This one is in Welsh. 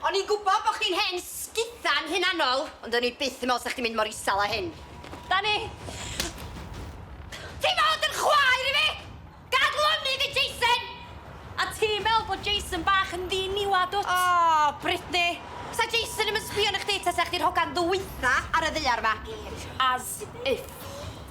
O'n i'n gwbo bo chdi'n hen sguddan hunanol, ond o'n i byth yn me'wl sa chdi'n mynd mor isal â hyn. Dani! Ti fod yn chwaer i fi! Gad lonydd i Jason! A ti'n me'wl bod Jason bach yn ddiniwad wt? O! Brittany! Sa Jason i'm yn sbio arna chdi tasa chdi'r hogan ddwytha ar y ddaear ma. As if.